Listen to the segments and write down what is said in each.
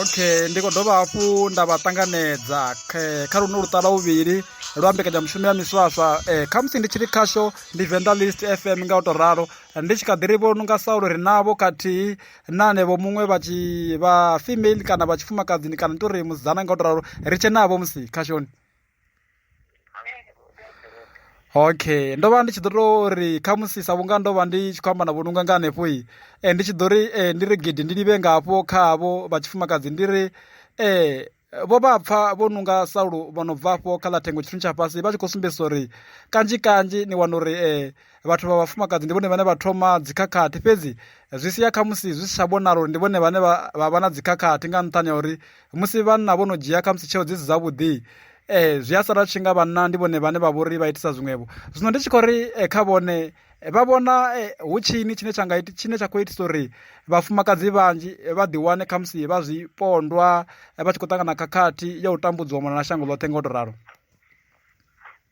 okay ndi khou dovha hafhu nda vha ṱanganedza kha luno luṱala vhuvhili lwa mbekanyamushumo ya miswaswa um kha musi ndi tshiri khasho ndi venḓa list f m nga u tou ralo ndi tshi kha ḓi ri vho no nga saulo ri navho khathihi na anevho muṅwe vha tshi vha female kana vha tshifumakadzini kana ndi tou ri musidzana nga u tou ralo ri tshe navho musi khashoni okay ndo vha ndi tshi ḓo tou ri kha musi sa vhunga ndo vha ndi tshi khou amba na vhonunga nga hanefho i um ndi tshi ḓo ri um ndi ri gidi ndi livhe nga hafho kha havho vha tshifumakadzi ndi ri um vho vha pfa vho nunga saulo vho no bva afho kha ḽa thengo tshithu tsha fhasi vha tshi khou sumbedzisa uri kanzhi kanzhi ni wana uri um vhathu vha vhafumakadzi ndi vhone vhane vha thoma dzikhakhathi fhedzi zwi sia khamusi zwi si tsha vhonala uri ndi vhone vhane vha vha na dzikhakhathi nga nṱhani ha uri musi vhanna vho no dzhia khamusi tsheo dzi si dzavhuḓi eh zwi a sala tshi nga vhanna ndi vhone vhane vha vhori vha itisa zwiṅwevho zwino ndi tshi khou ri eh, kha vhone eh, vha vhona eh, hu tshini tshine tsha nga tshine tsha khou itisa uri vhafumakadzi vhanzhi vha ḓiwane khamusi vha zwi pondwa vha tshi khou ṱangana khakhathi ya u tambudziwa mona na shango ḽoṱhe nga u to ralo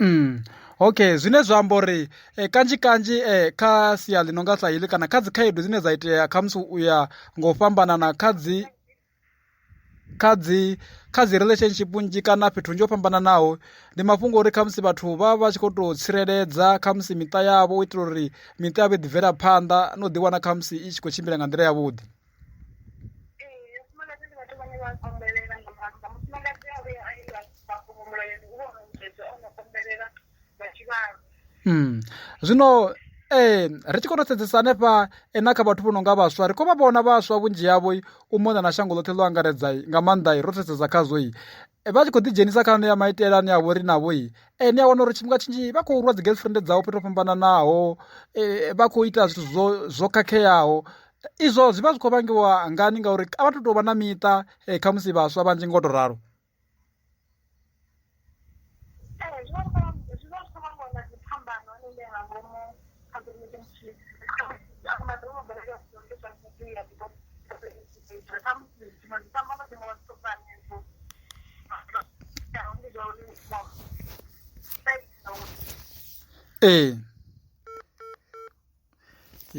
Mm. okay zwine zwa amba uri eh, kanzhi kanzhi eh, kha sia ḽi no nga sa heḽi kana kha dzi khaedu dzine dza itea kha musi u ya ngo fhambanana kha dzi kha dzi kha dzi relationship nnzhi kana fhethu nnzhi ho fhambananaho ndi mafhungo uri kha musi vhathu vha vha tshi khou tou tsireledza kha musi miṱa yavho u itela uri miṱa yavho i ḓibvela phanḓa no ḓiwana kha musi i tshi khou tshimbila nga nḓila yavhuḓi zwino ee ri tshi khou to sedzesa hanefha na kha vhathu vho no nga vhaswa ri khou vha vhona vhaswa vhunzhi havho u mona na shango ḽoṱhe ḽo angaredza nga maanḓa ro to sedza khazwo vha tshi khou ḓi dzhenisa kha ane ya maitele ane a vhori navho i ene a wana uri tshifhinga tshinzhi vha khou rwa dzi girlfriend dzavho fhethu fhambananaho vha khou ita zwithu zwo zwo khakheaho izwo zwi vha zwi khou vhangiwa ngani ngauri a vha to tou vha na miṱa kha musi vhaswa vhanzhi ngo to ralo ee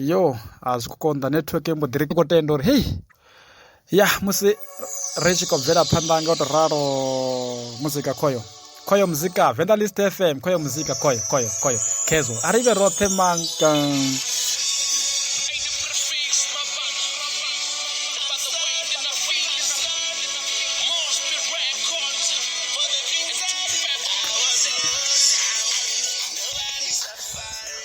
yo a zwi khou konḓa netiweke mbo ḓi ri khou tenda uri heyi. ya musi ri tshi khou bvela phanḓa nga u to ralo muzika khoyo khoyo muzika venda list fm khoyo muzika khoyo khoyo khoyo khezo a ri vhe roṱhe manka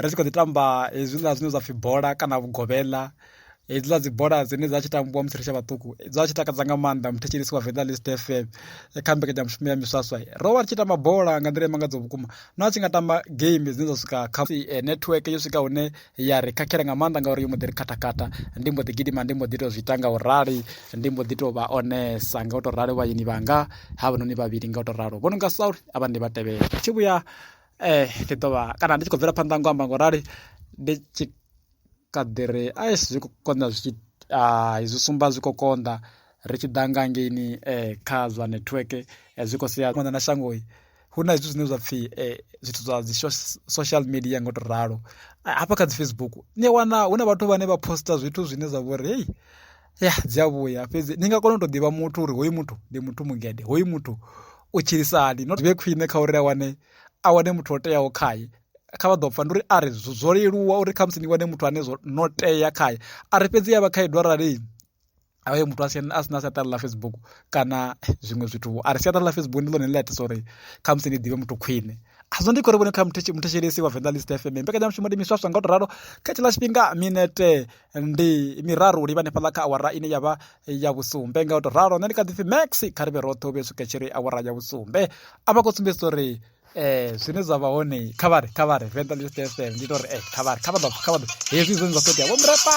ri tshi kho ḓi tamba hezwiḽa zwine zwa pfhi bola kana vhugovhela hedziḽa dzi bola dzine dza tshi tambiwa musi ri tshe vhaṱuku dza tshi takadza nga maanḓa muthetshelesi wa venḓa list fm kha mbekanyamushumo ya miswaswa ro vha ri tshi tamba bola nga nḓila imangadzo vhukuma no a tshi nga tamba game dzine dza swika kha eh, network yo swika hune ya ri khakhela nga maanḓa ngauri yo mbo ḓi ri khathakhatha ndi mbo ḓi gidima ndi mbo ḓi tou zwi ita nga u rali ndi mbo ḓi tou vha onesa nga u tou rali vhayeni vhanga ha vhanoni vhavhili nga u tou ralo vho no nga sauri a vha ndi vha tevhela tshi vhuya ndi ḓo vha kana ndi tshi khou bvela phanḓa ngo amba ngo rali ndi tshi kha ḓi ri a zwi khou konḓa zwi tshi zwi sumba zwi khou konḓa ri tshi ḓa nga ngeini kha zwa network zwi khou sia konḓa na shango hu na zwithu zwine zwa pfhi zwithu zwa dzi social media ngo to ralo hafha kha dzi Facebook ni wana hu na vhathu vhane vha poster zwithu zwine zwa vhori hey ya dzi a vhuya fhedzi ni nga kona u tou ḓivha muthu uri hoyu muthu ndi muthu mugede hoyu muthu u tshilisa hani not vhe khwine kha uri a wane a wane muthu o teaho khaye kha vha ḓo pfa ndi uri a ri zwo leluwa uri kha musi ni wane muthu ane zwo no tea khaye a ri fhedzi ya vha khaedu arali avhaye muthu a sina siaṱari ḽa facebook kana zwiṅwe zwithu a ri siaṱari ḽa facebook ndi ḽone ḽi itisa uri kha musi ni ḓivhe muthu khwine azwo ndi khori vhone kha muthetshelesi wa venḓa list fm mbekanyamushumo ndi miswaswa nga u to ralo kha tshiḽa tshifhinga minete ndi miraru u livha hanefhaḽa kha awara ine ya vha ya vhusumbe nga u tou ralo nṋe ndi kha ḓi pfhi max kha ri vhe roṱhe u vhe swika tshiri awara ya vhusumbe a vha khou sumbedzisa uri eh zwine zwa vha hone kha vhari kha vhari venḓa ḽi stf ndi tori eh kha vhari kha vha ḓo kha vha ḓo hezwi zwine zwa khou itea vho mrepa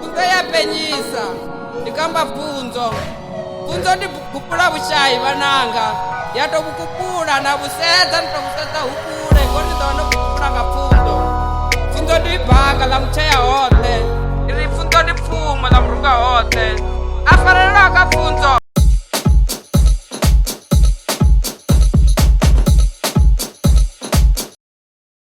kuteya penyisa ndikamba bvunzo bvunzo ndi gupula vhushayi vhananga ya to vhukupula na vhusedza ndi to vhusedza hukule ngo ndi ḓo ndo vhukupula nga pfunzo pfunzo ndi baka ḽa mutshea hoṱhe ndi ri pfunzo ndi pfumo ḽa murunga hoṱhe a farelelwa ka pfunzo